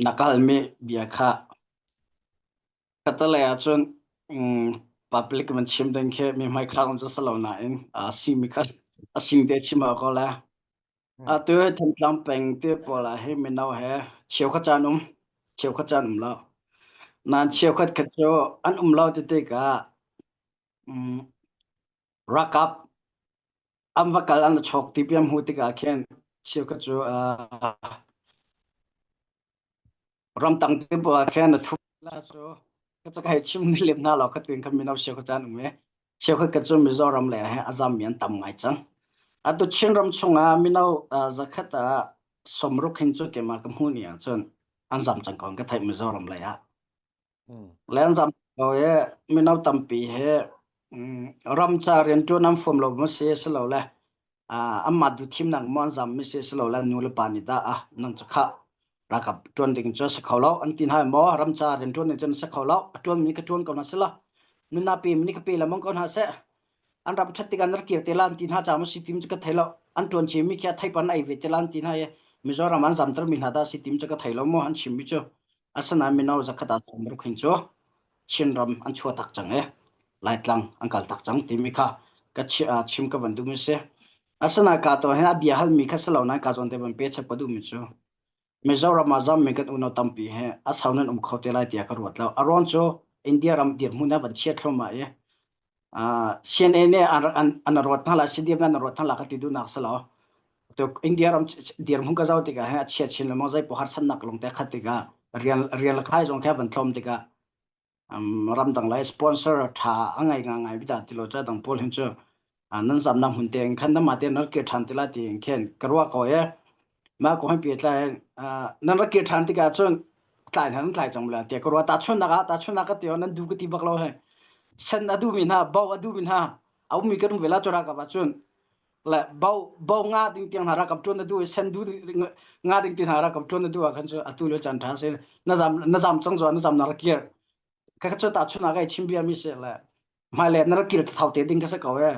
Na kalmi bia kha Catalan ahcun public in chim ding khi mi hmaikhal um cu si lo nain a simi kha a sing te chim awk ko le. Atu hi Thantlang peng te pawl ah hi mino he cheukhat can um cheukhat can um lo. Nain cheukhat khat cu an um lo ti tikah Rakap an va kal an va chawk ti piam hmu tikah khin cheukhat cu ramtang te puah khin a thu cu ka cak hei chim ni lem hna lo ka tin khan mino cheu kha chan um e cheu kha ka chu mizoram le he azam mi an tam ngai cang atu chin ram chungah mino zakhat ah somruk hin chu kema ka hmu ni ah cun an zam cang kon ka thai mizoram le ah Lenzam lo i mino tampi hi ramca rianṭuan an fom lo mu si silole anmah duhthimnak maw an zam mi si silole nu le pa nih dah nang cu khah ralkap ṭuan ding cu a si kho lo an ti hna maw ramca rianṭuan nih cun a si kho lo a ṭuan mi ka ṭuan ko hna sih law nu na pe mi nih ka pe lengmang ko hna seh an ram ṭhat tikah an kir te lan ti hna ca mu si tim cu ka thei lo an ṭuan chin mi khi a theipan ai ve te lan ti hna i Mizoram an zamter mi hna dah si tim cu ka thei lo maw an chim mi cu Asinain mino zakhat ah tumruk hin cu Chinram an chua tak cang i Laitlang an kal tak cang timi kha ka chim ka van duhmi si. Asinain ka to hin a bia halmi kha si lo nain ka zawn te van pe chap ka duhmi cu Mizoram ah zammi kan unau tampi hi a sau nan um kho te lai tiah ka ruat lo. A ruang cu India ram dirhmun a van chiat thluahmah i CNN ne an ruat hna la CDF an ruat hna la ka ti duhnak si lo to India ram dir hung ka zau tika he chia chin le mong zai pohar san nak long te khat tika rial rial khai zong khe ban thlom tika ram dang lai sponsor tha angai nga ngai bita ti lo cha dang pol hin chu nan zam nam hun te khan na ma te nar ke than tila ti khen karwa ko ye ma ko han pe tlai nan ra ke than tika cun tlai nan tlai chang bla te ko ro ta chun nak a ta chun nak ka te nan du ka ti bak lo he sen adu mi na bau adu mi na au mi ka ru vela chora ka ba chun la bau bau nga ding tiang hara kam chun adu sen du nga ding tin hara kam chun adu a khan chu atu le chan than se na zam na zam chang zo na zam na ra ke ka ka chu ta chun na ga chim bia mi se la Hmailei na rak kil thau te ding ka si ko e.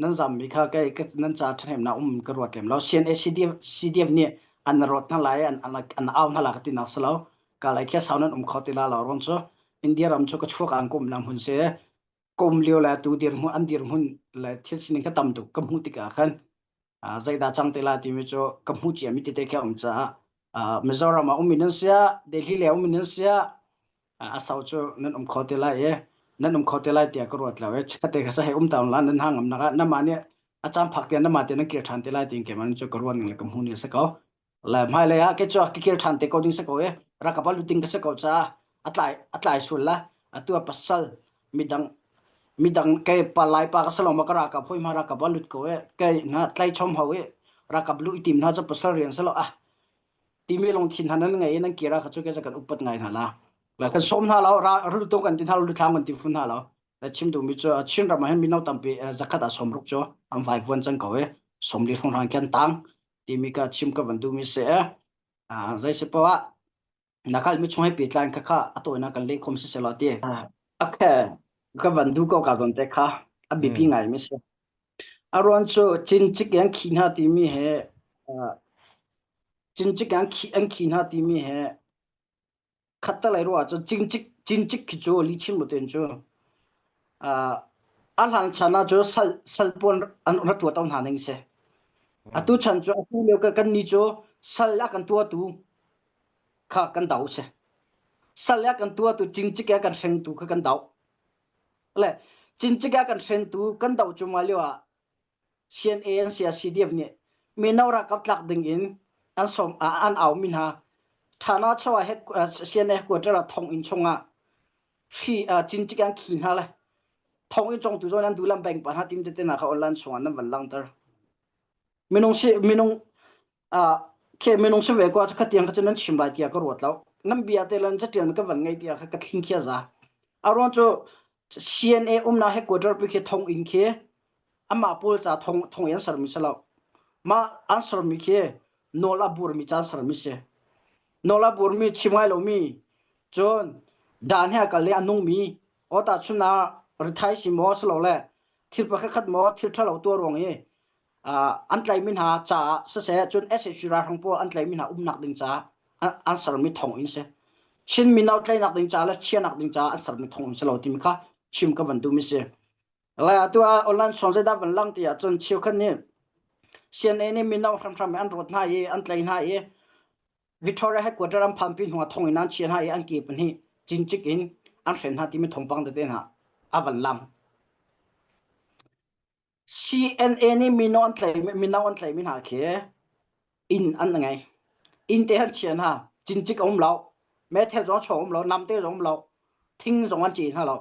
Nan zammi kha kei ka, nan ca ṭhahnemnak um ka ruat lem lo. CNA CDF, CDF nih an na rawt hna lai, an, an, an au hna la ka ti nak si lo. Ka lai kia sau nan um kho ti la lo run cu. India ram cu ka chuak ang kum na hun se. Kum liu le tu dir hmun, an dir hmun le thil sining ka tam tuk ka hmu tik ah khan. zeidah cang te la timi cu ka hmu cia mi tete khi a um caah Mizoram ah ummi nan siah Delhi lei ummi nan siah a sau cu nan um kho te lai i nan um kho te lai tiah ka ruat lo i kha te kha sa hei um ta la nan hang am nak ah nama nih a cam phak tiang nama te nan kir ṭhan te lai tin keimah cu ka ruan ngang le ka hmu ni a si ko Le hmailei ah ke cuak ka kil ṭhan te ko ding si ko i rak ka va lut ding ka si ko caah a tlai a tlai sul la atu ah pasal midang midang ke pa lai pa ka si lawng ma ka ra ka hoi ma ra ka va lut ko i ke hna tlai chom hau i ra ka lu i tim hna cu pasal rian si lo ah timi lungthin hna nan ngei i nan kira kha cu ke kan upat ngai hna la le kan sawm hna lo ra ru tu kan ti hna lo thlang kan ti fun hna lo le chim duhmi cu Chin ram ah hin mino tampi zakhat ah sawm ruk cu an vai vuan cang ko i sawm li hrong hrang khen tang timi ka chim ka van duhmi si e zei si poah na khal mi chung he petlan kha kha a tawinak kan leh khom si se lo ti okay ka van du ko ka gon te kha a bipi ngai mi si aron chu chin chik yang khi na timi he chin chik yang khi an khi na timi he khatta lai ruah cu cincik cincik khi cu li chin moten cu a hlang chan ah cu sal salpuan an ra tua to hna ning se atu chan cu atu leo kan ni cu sal a kan tua tu kha kan dau se sal a kan tua tu cincik a kan hreng tu kha kan dau le cincik a kan hren tu kan do chuma leo ah CNA an CRCDF nih mino ralkap tlak ding in an som an aumi hna thana chawa he CNA headquarter ah thong in chungah hri cincik an khi hna le thong in chong tu zon an dulam bank pa hna tim tete na kha online sung an van langter minung si minung ke minung se ve kwa kha tiang kha nan chim bai tia ka ruat lo nam bia te lan chatian ka van ngai tia kha ka thing khia za aron chu CNA umna headquarter pi ke thong in ke ama pol cha thong thong yan sar mi salo ma answer mi ke nola bur mi chan sar mi se nola bur mi chimai lo mi chon dan ha ka le anung mi ota chuna rithai si mo slo le thil pa khat mo thil thalo to rong e an tlaihmi hna caah siseh cun SSC ralhrang pawl an tlaihmi hna umnak ding caah an sermi thawng in si Chin mino tlaihnak ding caah le chiahnak ding caah an sermi thawng in si lo timi kha chim ka van duhmi si lai atu ah online song zeidah van lang ti ahcun cheukhat nih CNA nih mino hramhram an rawt hna i an tlai hna i Victoria headquarter an phanpi hnuah thong in an chia hna i an ke pahnih cincik in an hren hna timi thongpang tete hna a van lang CNA nih mino an tlei mino an tleimi hna khi inn an ngei inn te an chia hna cincik a um lo meithal zong chawng um lo namte zong um lo thing zong an ceh hna lo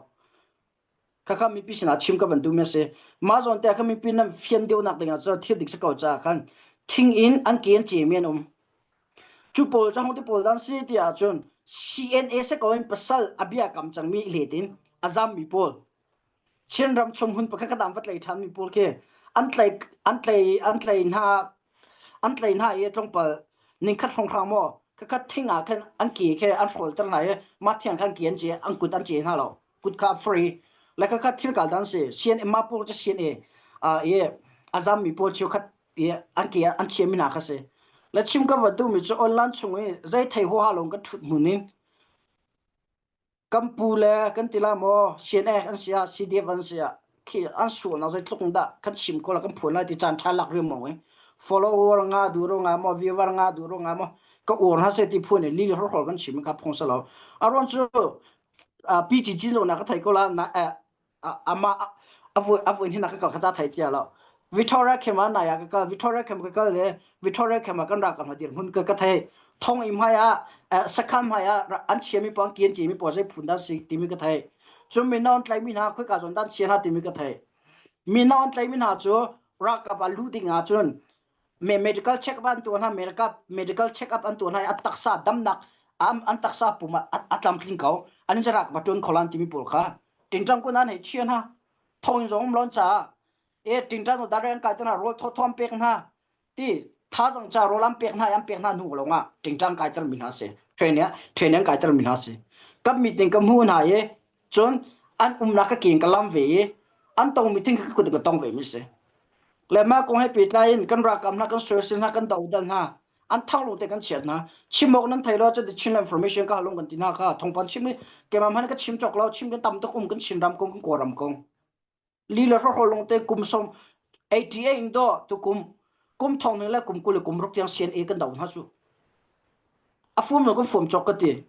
khakha mipi sinah chim ka bantuk mi a si mah zawn te kha mipi nan fian deuh nak dingah cu thil dik si ko caah khan thing in an ke an cehmi an um cu pawl cu hong ti pawl dan si ti ahcun CNA se ko in pasal a bia kam cangmi letin a zammi pawl Chinram chung hun pakhat an va tlei ṭhanmi pawl khi an tlei an tlei an tlei hna an tlei hna i tlungpal ningkhat hrawnghrang maw kakhat thing ah khan an ke khe an hrawlter hna i mah thiang khan ke an ce an kut an ce hna lo kut kha free le kakhat thil kal dan si sian emma pawl cu sian i i a zammi pawl cu khat i an ke an chiami hna kha si le chim ka va duhmi cu online chung i zei thei huaha lawng kan ṭhut hmun in kan pu le kan ti la maw CNA an sia CDF an sia khi an sualnak zeitluk in dah kan chim ko la kan phuan lai ti caan ṭha lak riam maw follower nga du ro nga maw viewer nga du ro nga maw ka uar hna se ti phuan li hor hor kan chim ka phong sa lo aron chu pi chi chin ro na ka thai ko la na amah avoi hna ka kal kha ca thai tia lo Victoria khema na ya ka kal Victoria khem ka kal le Victoria khema kan ra ka ma dir hun ka ka thai thong im haya sakam haya an chia mi pang kian chi mi po sai phun da si ti mi ka thai chu mi non tlai mi ha khoi ka zon dan chia ha ti mi ka thai mi non tlai mi ha chu ra ka ba lu ding a chun medical check up an tuah hna medical medical check up an tuah hna i an taksa damnak an taksa pum ah a tlamtling ko an in rak va ṭun kholan timi pawl kha tingṭang kun an hei chia hna thong in zong lon caah e tingṭang dare an kai tana rawl thawm pek hna ti tha zang cha rawl an pek hna i an pek hna hnu lawng ah tingṭang kai tar mi hna si training training kai tar mi hna si kan meeting ka mu hna i Cun an umnak ka keen ka lam ve i an tongmi thing ka kut in ka tong ve mi si. Le mah kong he pehtlai in kan ralkap hna kan sources hna kan dohdal hna an thang lung te kan chiat hna chimok nan thei lo cu chin information ka halung kan tina ka thongpan chim ni kemam han ka chim chok lo chim kan tam tuk um kan chin ram kong kan ko ram kong li le ro holong te kum som 88 in do tu kum kum thong ning le kum kul le kum rok tiang sian e kan dau hna chu a fum lo kan fum chok ka ti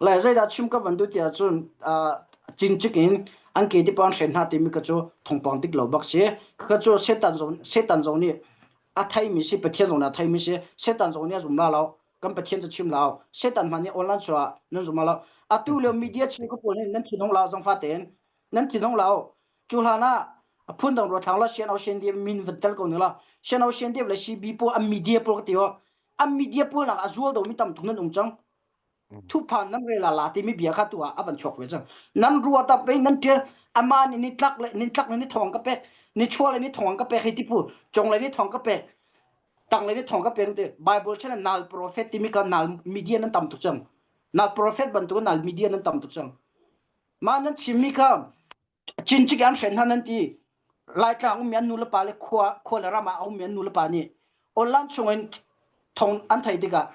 la zai da chim ka ban du tia chun chin chikin an ke ti pan shen ha ti mi ka chu thong pang tik lo bak si ka chu setan zon setan zon ni a thai mi si pathian zon a thai mi si setan zon ni zum la lo kan pathian chu chim lao setan man ni online chua nan zum la atu le media chi ko pol nan thinong la zong fa ten nan ti dong lao cu hlan ah phun dong ro thang lo sian au sian dia min van tel ko ne la sian au sian dia le si bi po am media po ka ti o am media po nak a zual do mi tam thung nan ung chang thu phan nam re la la ti mi bia kha tu a avan chok ve chang nan ruwa ta pe nan te ama ni ni tlak le ni tlak ni ni thong ka pek ni chua le ni thong ka pek hi ti pu chong le ni thong ka pek tang le ni thong ka pek te bible chen nal prophet ti mi ka nal media nan tam thuk chang nal prophet ban tu nal media nan tam thuk chang Ma nan chimmi kha cincik an hren hna nan ti laitlang ummi an nu le pa le khua khua le ram ah a ummi an nu le pa nih online chungin thong an thei tikah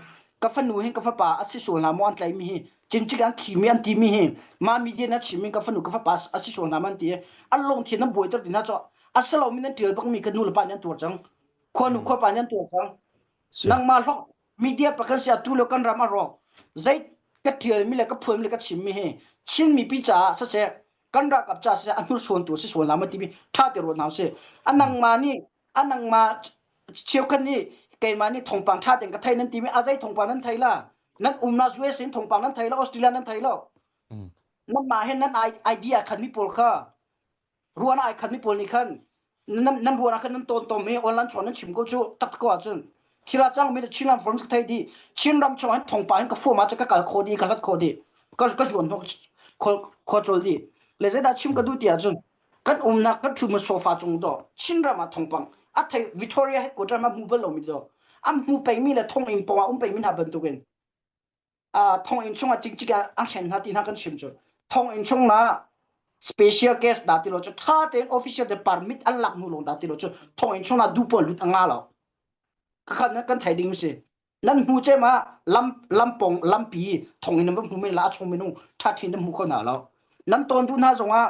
ka fanu hi ka fapa a si sual na maw an tlaimi hi cincik an khimi an timi hi ma media na chimmi ka fanu ka fapa a si sual na ma an ti an lungthin an buai ter dina cho a salomi nan tial bakmi ka nu le pa nih an tuar cang khua nu khua pa nih an tuar cang nangma hlok media pakhat sia tu le kan ram a ro zait ka tial mi le ka phuan mi le ka chim mi hi chin mi pi cha sa se kan ra kap cha se a nur suan tu si suan la ma ti mi tha te ro na se anang ma ni anang ma chiu kan ni keima ni thongpang tha ten ka thai nan ti mi azai thongpang nan thai la nan umna zue sin thongpang nan thai lo australia nan thai lo nan ma hen nan idea khan mi pol kha ruan ai khat mi pawl nih khan nan nan ruan ah khan nan ton tom i online chon nan chim ko cu tak ko ahcun thira chang mi chin lam form thei di chin ram chong an thong pa hin ka form ah ka kal kho di ka lat kho di ka ka zuan ho kho chol di le zai da chim ka du ti ahcun kan umnak kan thu ma sofa chung do chin ram ah thongpang a thei victoria headquarter ma mu bal lo mi do am mu pei mi le thong in pong a um pei mi hna bantukin thonginn chung ah cikcik an hlen hna ti hna kan chim cu thonginn chung ma special guest da ti lo cu tha tein official te permit an lak hnu lawng da ti lo cu thonginn chung ah du pawl lut anga lo kakhat na kan thai ding si nan hnu che ma lam lam pong lampi thonginn nan hnu men la a chung minung tha thin nan hmu kho na lo nan ton du hna zong ah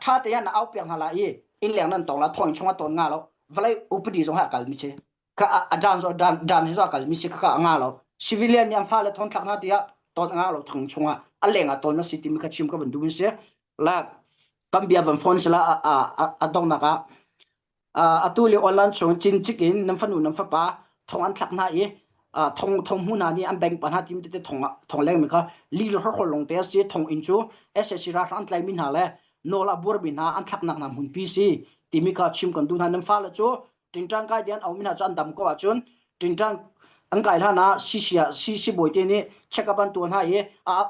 tha te an au piang hna la i in leng nan tong la thonginn chung ah ton nga lo valai upadi zong ha kal mi che ka dan zo dan dan hi zo kal mi si ka nga lo civilian nih fa le thon thak na tiah ton nga lo thang chunga alenga ton na si ti mi ka chim ka ban du se la kan bia van phone sala a a dong na ka a tu le online chung chin chik in nam fanu nam fa pa thong an thak na i thong thong mu na ni an bank pa na tim te thong thong leng mi ka li lo hor long te si thong in chu ssc ra ran tlai min ha le nola bur bin na an thak nak na mun pi si ti mi ka chim kan du na nam fa la chu tingṭang kai dian aumi hna cu an dam ko ahcun tingṭang an kai hlan ah sisi ah si sibawi te nih check up an tuah hna i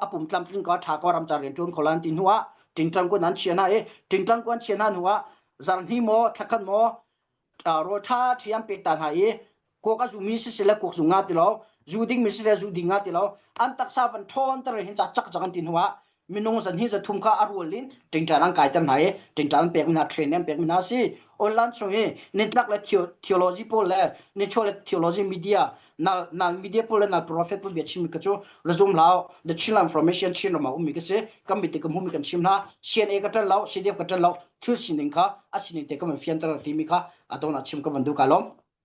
a pum tlamtling ko ṭha ko ram ca rian ṭuan kho lan ti hnu ah tingṭang kun an chia hna i tingṭang kun an chia hna hnu ah zarhni maw thlakhat maw rawl ṭha ṭhi an pet ta hna i kuak a zumi si sile kuak zu nga ti lo zu ding mi si le zu ding nga ti lo an taksa van ṭhawn tere hin ca chak chak an ti hnu ah minung zan hi zathum ka a rual in tingtan an kai ter hna i tingtan an pek mi hna train an pek mi hna si online chung i nin tak le theology pawl le nin chua le theology media na na media pawl le na prophet pawl bia chim ka chu resume lao the children information chin rama um mi ka se kam mit kam hum mi kan chim na CNA ka tan lao CDF ka tan lao thil sining kha a sining te kam fian ter ti mi kha adona chim ka bandu ka lom